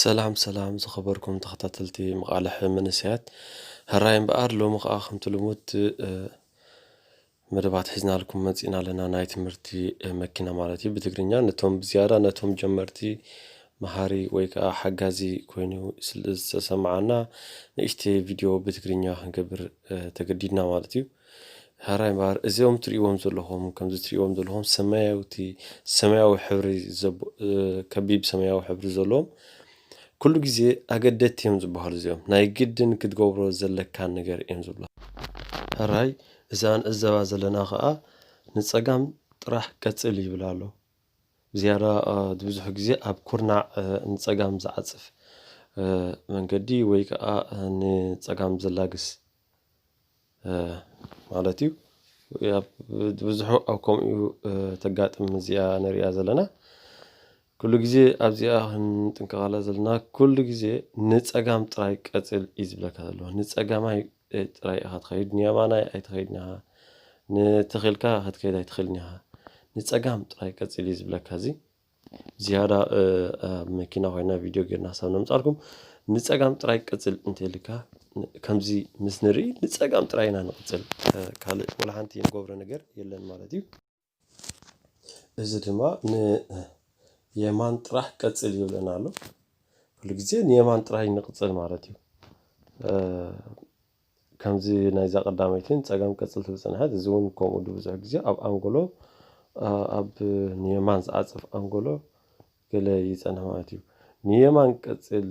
ሰላም ሰላም ዝኸበርኩም ተኸታተልቲ መቓልሕ መንእሰያት ሕራይ እምበኣር ሎሚ ከዓ ከምቲ ልሙድ መደባት ሒዝናልኩም መፂና ኣለና ናይ ትምህርቲ መኪና ማለት እዩ ብትግርኛ ነቶም ብዝያዳ ነቶም ጀመርቲ መሃሪ ወይ ከዓ ሓጋዚ ኮይኑ ዝተሰማዓና ንእሽተይ ቪድዮ ብትግርኛ ክንገብር ተገዲድና ማለት እዩ ሐራይ እምበኣር እዚኦም ትርእይዎም ዘለኹም ከምዚ ትርእይዎም ዘለኹም ሰማያውቲ ሰማያዊ ሕብሪ ከቢብ ሰማያዊ ሕብሪ ዘለዎም ኩሉ ግዜ ኣገደቲ እዮም ዝበሃሉ እዚኦም ናይ ግድን ክትገብሮ ዘለካ ነገር እዮም ዝብሉ ሐራይ እዛ ንዕዘባ ዘለና ከኣ ንጸጋም ጥራሕ ቀጽል ይብል ኣሎ ብዝያዳ ብዙሕ ግዜ ኣብ ኩርናዕ ንጸጋም ዝዓጽፍ መንገዲ ወይ ከኣ ንጸጋም ዘላግስ ማለት እዩ ብዝሑ ኣብ ከምኡ እዩ ተጋጥም እዚኣ ንርያ ዘለና ኲሉ ጊዜ ኣብዚኣ ኽንጥንቀቓላ ዘለና ኲሉ ጊዜ ንጸጋም ጥራይ ቀጽል እዩ ዝብለካ ዘሎ ንጸጋማይ ጥራይ ኢኻ ትኸይድ ንየማናይ ኣይትኸይድን ኢኻ ንተኺልካ ኽትከይድ ኣይትኽእልን ኢኻ ንጸጋም ጥራይ ቀጽል እዩ ዝብለካ እዚ። ዝያዳ ኣብ መኪና ኮይና ቪድዮ ጌርና ሓሳብ ነምፃልኩም ንፀጋም ጥራይ ቅፅል እንተልካ ከምዚ ምስ ንርኢ ንፀጋም ጥራይ ኢና ንቕፅል ካልእ ወላ ሓንቲ ንገብሮ ነገር የለን ማለት እዩ እዚ ድማ ንየማን ጥራሕ ቀፅል ይብለና ኣሎ ኩሉ ግዜ ንየማን ጥራይ ንቕፅል ማለት እዩ ከምዚ ናይዛ ቀዳመይቲን ጸገም ቅጽል ትብል ጸንሐት እዚ ውን ከምኡ ዱ ብዙሕ ግዜ ኣብ ኣንጎሎ ኣብ ንየማን ዝዓጽፍ ኣንጎሎ ገለ ይጸንሕ ማለት እዩ ንየማን ቀጽል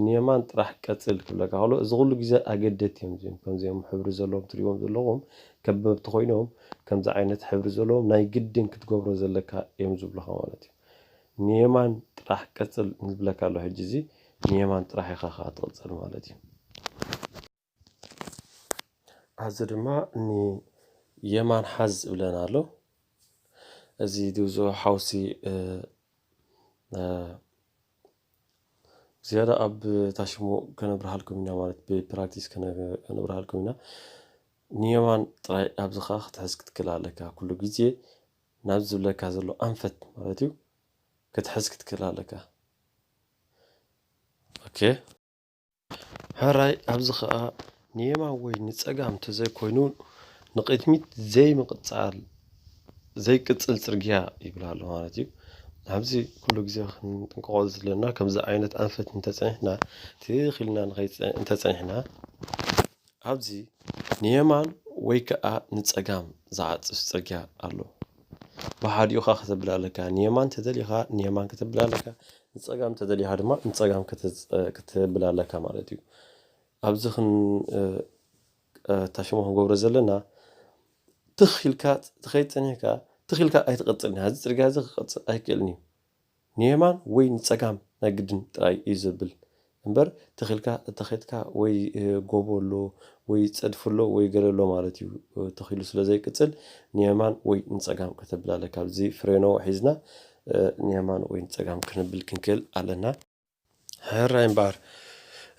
ንየማን ጥራሕ ቀጽል ክብለካ ከሎ እዚ ኩሉ ግዜ ኣገደቲ እዮም እዚኦም ከምዚኦም ሕብሪ ዘለዎም ትሪእዎም ዘለኹም ከበብቲ ኮይኖም ከምዚ ዓይነት ሕብሪ ዘለዎም ናይ ግድን ክትገብሮ ዘለካ እዮም ዝብሉኻ ማለት እዩ ንየማን ጥራሕ ቀጽል ዝብለካ ኣሎ ሕጂ እዚ ንየማን ጥራሕ ኢኻ ከኣ ትቕጽል ማለት እዩ። ኣዚ ድማ ንየማን ሓዝ ዝብለና ኣሎ። እዚ ድብዞ ሓውሲ ዝያዳ ኣብ ታሽሙ ከነብርሃልኩም ኢና ማለት ብፕራክቲስ ከነብርሃልኩም ኢና ንየማን ጥራይ ኣብዚ ከዓ ክትሕዝ ክትክል ኣለካ ኩሉ ግዜ ናብዚ ዝብለካ ዘሎ ኣንፈት ማለት እዩ ክትሕዝ ክትክእል ኣለካ ኦኬ። ሕራይ ኣብዚ ከኣ ንየማን ወይ ንጸጋም ተዘይኮይኑ ንቕድሚት ዘይምቕጻል ዘይቅጽል ጽርግያ ይብል ኣሎ ማለት እዩ። ኣብዚ ኩሉ ግዜ ክንጥንቀቆ ዘለና ከምዚ ዓይነት ኣንፈት እንተጸኒሕና ትኽ ኢልና እንተጸኒሕና ኣብዚ ንየማን ወይ ከኣ ንጸጋም ዝዓጽፍ ጽርግያ ኣሎ። ብሓዲኡ ከኣ ከተብል ኣለካ። ንየማን እንተደሊኻ ንየማን ከተብል ኣለካ፣ ንጸጋም እንተደሊኻ ድማ ንጸጋም ከተብል ኣለካ ማለት እዩ። ኣብዚ ክንታሽሞ ክንገብሮ ዘለና ትኽ ኢልካ ትኸይድ ጸኒሕካ ትኽ ኢልካ ኣይትቕጽልን ኢኻ። እዚ ጽርግያ እዚ ክቕጽል ኣይክእልን እዩ። ንየማን ወይ ንጸጋም ናይ ግድን ጥራይ እዩ ዘብል እምበር ተኺልካ እተኸትካ ወይ ጎቦ ኣሎ ወይ ጸድፊ ኣሎ ወይ ገለ ኣሎ ማለት እዩ ተኺሉ ስለ ዘይቅጽል ንየማን ወይ ንጸጋም ከተብል ኣለካ ኣብዚ ፍሬኖ ሒዝና ንየማን ወይ ንጸጋም ክንብል ክንክእል ኣለና። ሕራይ እምበኣር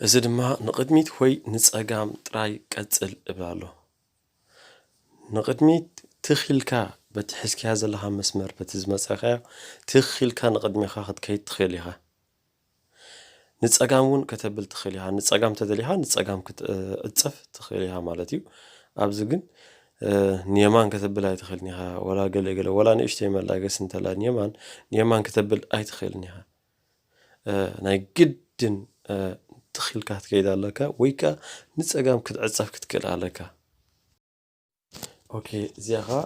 እዚ ድማ ንቕድሚት ወይ ንጸጋም ጥራይ ቀጽል እብል ኣሎ። ንቕድሚት ትኽ ኢልካ በቲ ሒዝካዮ ዘለኻ መስመር በቲ ዝመጸኻዮ ትኽ ኢልካ ንቕድሜኻ ክትከይድ ትኽእል ኢኻ። ንጸጋም እውን ከተብል ትኽእል ኢኻ። ንጸጋም እንተደሊኻ ንጸጋም ክትዕጸፍ ትኽእል ኢኻ ማለት እዩ። ኣብዚ ግን ንየማን ከተብል ኣይትኽእልን ኢኻ። ወላ ገለ ገለ ወላ ንእሽተይ መላገሲ እንተላ ንየማን ንየማን ከተብል ኣይትኽእልን ኢኻ። ናይ ግድን ትኽ ኢልካ ክትከይድ ኣለካ ወይ ከኣ ንጸጋም ክትዕጸፍ ክትክእል ኣለካ። ኦኬ እዚኣ ከኣ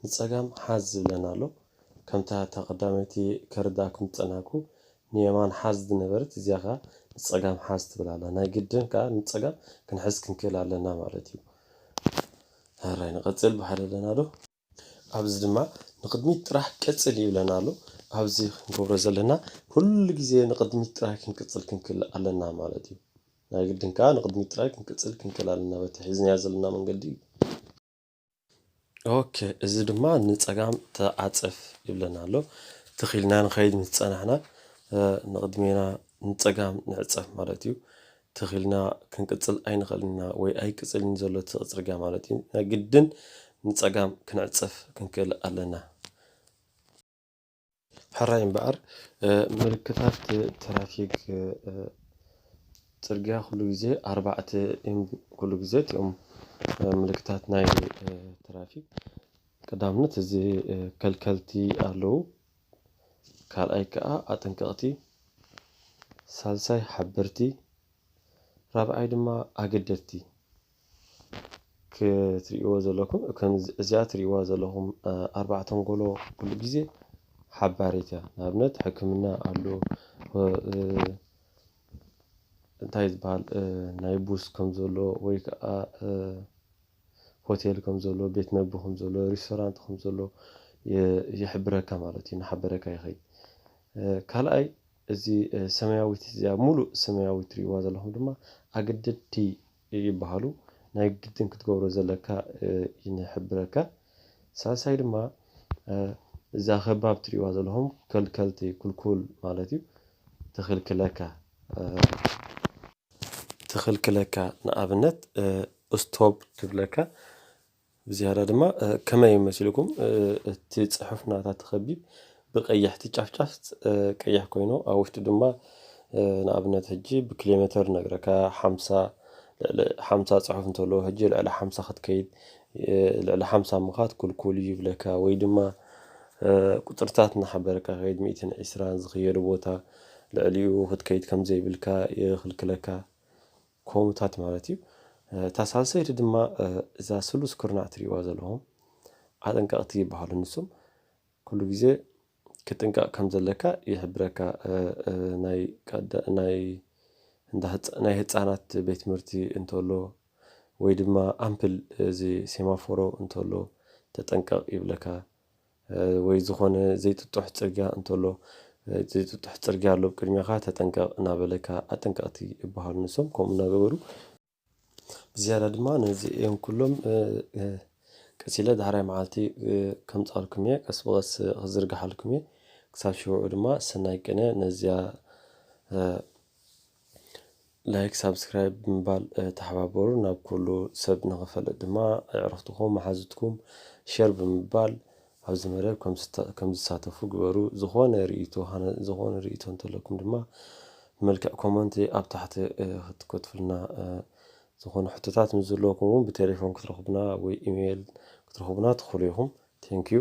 ንጸጋም ሓዝ ዝብለና ኣሎ። ከምታ እታ ቀዳመይቲ ከርድኣኩም ዝጸናሕኩ ንየማን ሓዝ ዝነበረት እዚኣ ከኣ ንጸጋም ሓዝ ትብል ኣላ። ናይ ግድን ከኣ ንጸጋም ክንሕዝ ክንክእል ኣለና ማለት እዩ። ሃራይ ንቐጽል ብሓደ ኣለናዶ? ኣብዚ ድማ ንቕድሚት ጥራሕ ቀጽል ይብለና ኣሎ። ኣብዚ ክንገብሮ ዘለና ኩሉ ግዜ ንቕድሚት ጥራይ ክንቅጽል ክንክል ኣለና ማለት እዩ። ናይ ግድን ከኣ ንቕድሚት ጥራይ ክንቅጽል ክንክል ኣለና በቲ ሒዝናዮ ዘለና መንገዲ እዩ። ኦኬ እዚ ድማ ንጸጋም ተዓጸፍ ይብለና ኣሎ። ትኽ ኢልና ንኸይድ ምስ ጸናሕና ንቕድሜና ንጸጋም ንዕጸፍ ማለት እዩ። ትኽ ኢልና ክንቅጽል ኣይንኽእልን ኢና ወይ ኣይቅጽልን ዘሎ እቲ ጽርግያ ማለት እዩ ናይ ግድን ንጸጋም ክንዕጸፍ ክንክእል ኣለና። ሕራይ እምበኣር ምልክታት ትራፊክ ጽርግያ ኩሉ ግዜ ኣርባዕተ እዮም ኩሉ ግዜ እቲኦም ምልክታት ናይ ትራፊክ ቀዳምነት እዚ ከልከልቲ ኣለዉ ካልኣይ ከኣ ኣጠንቀቕቲ፣ ሳልሳይ ሓበርቲ፣ ራብዓይ ድማ ኣገደድቲ ክትርእይዎ ዘለኩም እዚኣ ትርእይዋ ዘለኹም ኣርባዕ ተንጎሎ ኩሉ ግዜ ሓባሪት እያ። ንኣብነት ሕክምና ኣሎ እንታይ ዝበሃል ናይ ቡስ ከም ዘሎ ወይ ከዓ ሆቴል ከም ዘሎ ቤት መግቢ ከም ዘሎ ሪስቶራንት ከም ዘሎ ይሕብረካ ማለት እዩ ናሓበረካ ይከይድ ካልኣይ እዚ ሰማያዊት እዚኣ ሙሉእ ሰማያዊት ትሪእዋ ዘለኩም ድማ ኣገደድቲ ይባሃሉ ናይ ግድን ክትገብሮ ዘለካ ይንሕብረካ ሳልሳይ ድማ እዛ ከባብ ትሪእዋ ዘለኩም ከልከልቲ ኩልኩል ማለት እዩ ትኽልክለካ ትኽልክለካ ንኣብነት ስቶብ ትብለካ ብዝያዳ ድማ ከመይ መሲልኩም እቲ ፅሑፍ ናታ ተኸቢብ ብቀያሕቲ ጫፍጫፍ ቀያሕ ኮይኑ ኣብ ውሽጡ ድማ ንኣብነት ሕጂ ብኪሎ ሜትር ነግረካ ሓምሳ ልዕሊ ሓምሳ ፅሑፍ እንተለዎ ሕጂ ልዕሊ ሓምሳ ክትከይድ ልዕሊ ሓምሳ ምኻድ ክልኩል እዩ ይብለካ ወይ ድማ ቁጽርታት እናሓበርካ ክይድ ሚእትን ዒስራን ዝኽየዶ ቦታ ልዕሊኡ ክትከይድ ከም ዘይብልካ ይኽልክለካ ኮሙታት ማለት እዩ እታ ሳልሰይቲ ድማ እዛ ስሉስ ኩርናዕ ትሪእዋ ዘለኹም ኣጠንቀቕቲ ይበሃሉ ንሱም ኩሉ ግዜ ክጥንቀቕ ከም ዘለካ ይሕብረካ ናይ ናይ ናይ ህጻናት ቤት ትምህርቲ እንተሎ ወይ ድማ ኣምፕል እዚ ሴማፎሮ እንተሎ ተጠንቀቕ ይብለካ ወይ ዝኾነ ዘይጥጡሕ ጽርግያ እንተሎ ዘይጥጡሕ ጽርግያ ኣሎ ቅድሜኻ ተጠንቀቕ እናበለካ ኣጠንቀቕቲ ይበሃሉ ንሶም ከምኡ እናገበሩ ብዝያዳ ድማ ነዚኦም ኩሎም ቀስ ኢለ ዳሕራይ መዓልቲ ከምጻልኩም እየ ቀስ ብቐስ ክዝርግሓልኩም እየ ክሳብ ሽውዑ ድማ ሰናይ ቅነ ነዚያ ላይክ ሳብስክራይብ ብምባል ተሓባበሩ ናብ ኩሉ ሰብ ንኽፈልጥ ድማ ኣዕርኽትኹም መሓዙትኩም ሸር ብምባል ኣብዚ መደብ ከምዝሳተፉ ግበሩ ዝኾነ ርእይቶ ዝኾነ ርእይቶ እንተለኩም ድማ ብመልክዕ ኮመንት ኣብ ታሕቲ ክትከትፍልና ዝኾነ ሕቶታት ምስ ዘለኩም እውን ብቴሌፎን ክትረኽቡና ወይ ኢሜይል ክትረኽቡና ትኽእሉ ኢኹም ቴንኪዩ